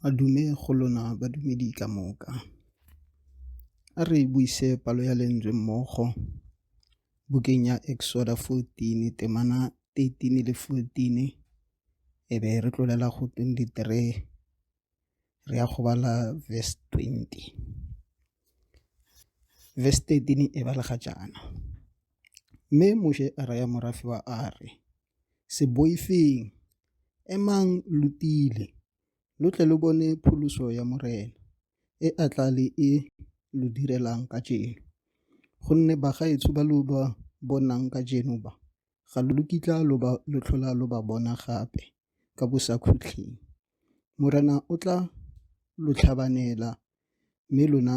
Madume go lona badumedi ka moka. A re buise palo ya Lentswe mmogo, bukeng ya Exoda 14, temana 13 le 14, e be re tlolela go 23, re ya go bala verse 20. Verse 13 e balega jaana, Mme Moshe a raya morafe wa Are, Se boifeng! Emang lo tiile, lo tle lo bone pholoso ya Morena, e a tla le e lo direlang kajeno. Gonne bagaetsho ba lo ba bonang kajeno ba, ga lo kitla lo tlhola lo ba bona gape ka Bosakhutleng. Morena o tla lo tlhabanela, mme lona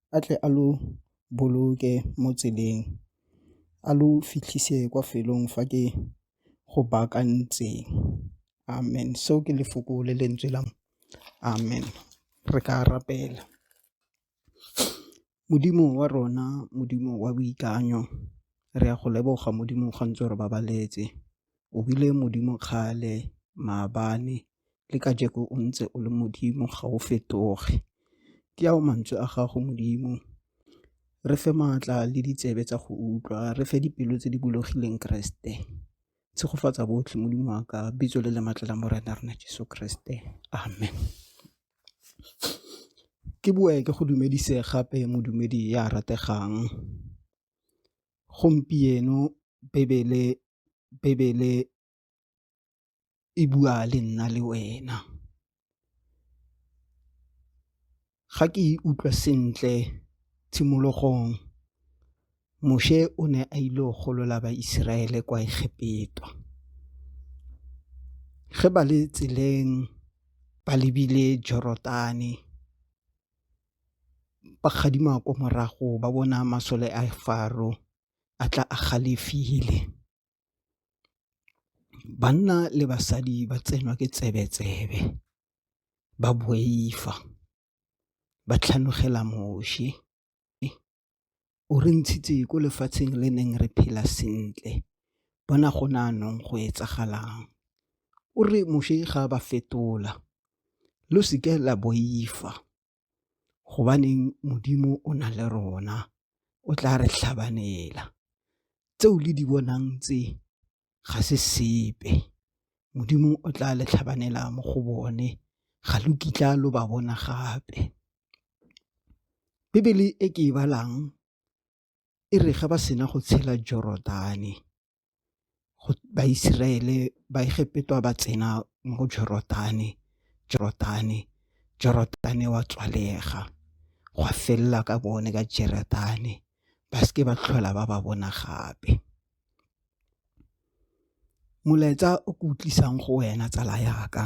a tle a lo boloke mo tseleng a lo fitlhise kwa felong fa ke go baakantseng amen seo ke lefoko le lentswe la amen re ka rapela. Modimo wa rona Modimo wa boikanyo re a go leboga Modimo ga ntse o re babaletse. o bile Modimo kgale, maabane, le kajeko o ntse o le Modimo, ga o fetoge. Ke ao mantswe a gago Modimo, re fe maatla le ditsebe tsa go utlwa, re fe dipelo tse di bulegileng Keresete. Tshegofatsa botlhe Modimo wa ka, bitso le lematla la Morena rona Jeso Keresete, amen. Ke boe ke go dumedise gape modumedi ya rategang. Gompieno Bibele e bua le nna le wena, ga ke e utlwa sentle tshimologong Moshe o ne a ile go golola ba-Israele kwa Egepeta, ge ba le tseleng ba lebile Jorodane. ba gadima kwa morago ba bona masole a Faro a tla a galefile. Banna le basadi ba tsenwa ke tsebe-tsebe, ba boifa, ba tlhanogela Moshe. O re ntshitse ko lefatsheng le neng re phela sentle, bona go ne jaanong go etsagalang. O re Moshe ga a ba fetola, lo se ke la boifa gobaneng Modimo o na le rona, o tla re tlhabanela. Tse o le di bonang tse, ga se sepe, Modimo o tla le tlhabanela mo go bone, ga lo kitla lo ba bona gape. Bibele e ke e balang e re ga ba sena go tshela Jorodane, Baiseraele, Baegepetwa ba tsena mo go Jorodane, Jorodane wa tswalega, gwa felela ka bone ka Jorodane, ba seke ba tlhola ba ba bona gape. Molaetsa o ke utlwisang go wena tsala ya ka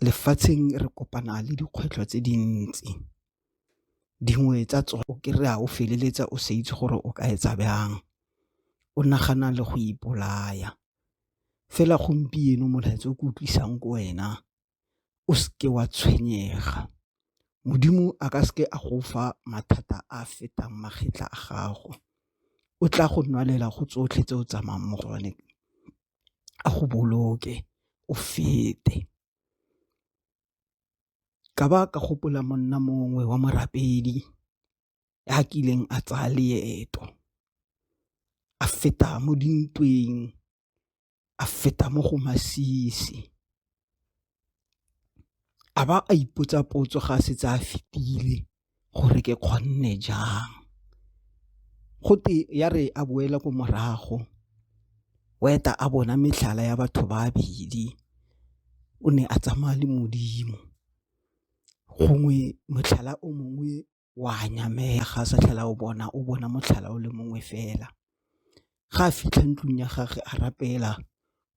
lefatsheng re kopana le dikgwetlho tse dintsi dingwe tsa tsone o kry-a o feleletsa o sa itse gore o ka etsa byang o nagana le go ipolaya fela gompieno molaetsa o ke utlwisang ko wena o seke wa tshwenyega. Modimo a ka seke a go fa mathata a a fetang magetla a gago, o tla go nwalela go tsotlhe tse o tsamayang mo go one, a go boloke o fete. Ka ba ka gopola monna mongwe wa morapedi ya kileng a tsaya leeto a feta mo dintweng a feta mo go masisi. A ba a ipotsa potso ga a setse a fetile gore ke kgonne jang. Go te ya re a boela ko morago o eta a bona metlhala ya batho ba babedi o ne a tsamaya le Modimo, gongwe motlhala o mongwe wa nyamega a sa tlhela o bona o bona motlhala o le mongwe fela ga a fitlha ntlong ya gage a rapela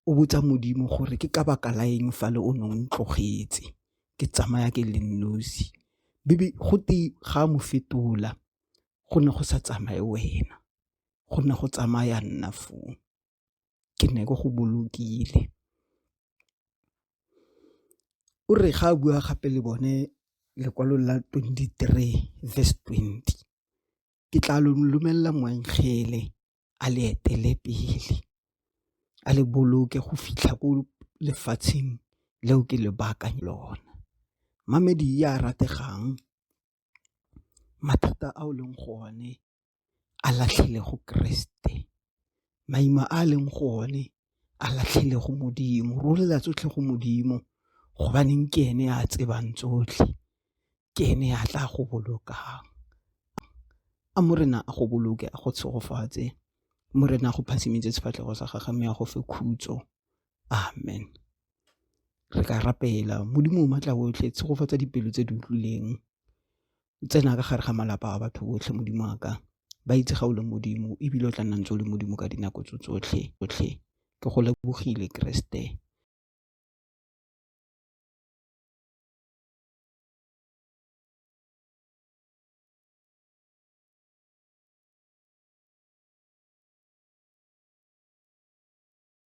o botsa modimo gore ke ka baka la eng fa le o ne o ntlogetse ke tsamaya ke le nosi bebe go te ga mo fetola go ne go sa tsamaye wena go ne go tsamaya nna foo. ke ne ke go bolokile o re ga a bua gape le bone lekwalo la 23 verse 20 ke tla lo lomelela moengele a le etele pele a le boloke go fitlha ko lefatsheng leo ke le baakanye lona mamedi ya rategang mathata a o leng go o ne a latlhele go keresete, maima a leng go o ne a latlhele go Modimo, re rolela tsotlhe go Modimo gobaneng ke ene a tsebang tsotlhe, ke ene a tla go bolokang. A Morena a go boloke a go tshegofatse, Morena a go phasimetse sefatlhego sa gage mme a go fe khutso, Amen. Re ka rapela, Modimo o maatla otlhe, tshegofatsa dipelo tse di utlwileng, tsena ka gare ga malapa a batho botlhe, Modimo wa ka, ba itse ga o le Modimo ebile o tla nna ntse o le Modimo ka dinako tso tsotlhe, tsotlhe. Ke go lebogile Keresete.